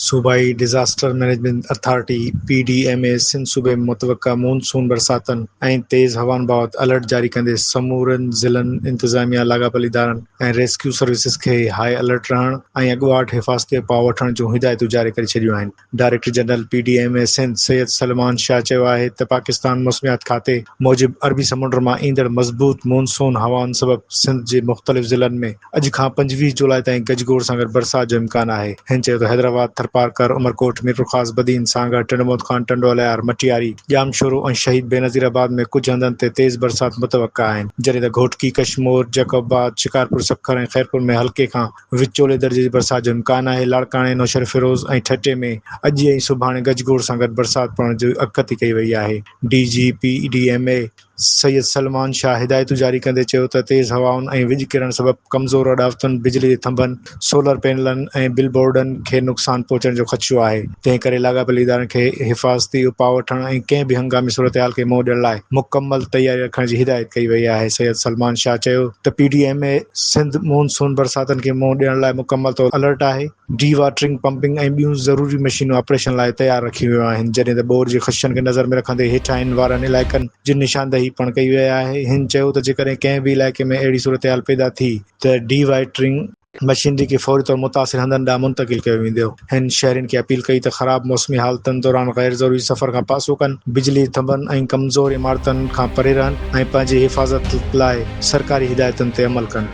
صوبائي disaster management authority, P D M A, Sindh صوبي ۾ متوقع مون سون برساتن ۽ تيز هوائن بابت الرٽ جاري ڪندي سمورن ضلعن، انتظاميا، لاڳاپيل ادارن ۽ ريسڪيو سروسز کي هاء الرٽ رهڻ ۽ اڳواٽ حفاظتي اپاء وٺڻ جون هدايتون جاري ڪري ڇڏيون آهن. Director general P D M A Sindh Syed Salman Shah چيو آهي ته پاڪستان موسميات کاتي موجب عربي سمنڊ مان ايندڙ مضبوط مون سون هوائن سبب سنڌ جي مختلف ضلعن ۾ اڄ کان پنجويهه جولاء تائين گج گوڙ سان گڏ برسات جو امڪان آهي هن چيو ته حيدرآباد ٿرپارڪر عمرڪوٽ ميرپورخاص بدين سانگهڙ ٽنڊوموت خان ٽنڊو الهيار مٽياري ڄامشورو ۽ شهيد بينظير آباد ۾ ڪجهه هنڌن تي تيز برسات متوقع آهن جڏهن ته گهوٽڪي ڪشمور جيڪب آباد شڪارپور سکر ۽ خيرپور ۾ هلڪي کان وچولي درجي جي برسات جو امڪان آهي، لاڙڪاڻي، نوشهروفيروز ۽ ٺٽي ۾ اڄ ۽ سڀاڻي گج گوڙ سان گڏ برسات پوڻ جي اڳڪٿي ڪئي وئي آهي، D G P D M A Syed Salman Shah هدايتون جاري ڪندي چيو ته تيز هوائن ۽ وڄ ڪرڻ سبب ڪمزور اڏاوتن، بجلي جي ٿنڀن، سولر پينلن ۽ بل بورڊن کي نقصان پهچڻ جو خدشو آهي، تنهن ڪري لاڳاپيل ادارن کي حفاظتي اپاء وٺڻ ۽ ڪنهن به هنگامي صورتحال کي منهن ڏيڻ لاء مڪمل تياري رکڻ جي هدايت ڪئي وئي آهي، سيد سلمان شاهه چيو ته P D M A Sindh monsoon برساتن کي منهن ڏيڻ لاء مڪمل طور الرٽ آهي، ڊي واٽرنگ، پمپنگ ۽ ٻيون ضروري مشينون آپريشن لاء تيار رکيون ويون آهن، جڏهن ته ٻوڏ جي خدشن کي نظر ۾ رکندي هيٺاهين وارن علائقن جي نشاندهي پڻ ڪئي وئي آهي، هن چيو ته جيڪڏهن ڪنهن به علائقي ۾ اهڙي صورتحال پيدا ٿي ته ڊي واٽرنگ، مشينري کي فوري طور متاثر هنڌن ڏانهن منتقل ڪيو ويندو. هن شهرين کي اپيل ڪئي ته خراب موسمي حالتن دوران غير ضروري سفر کان پاسو ڪن، بجلي ٿنڀن ۽ ڪمزور عمارتن کان پري رهن ۽ پنهنجي حفاظت لاء سرڪاري هدايتن تي عمل ڪن.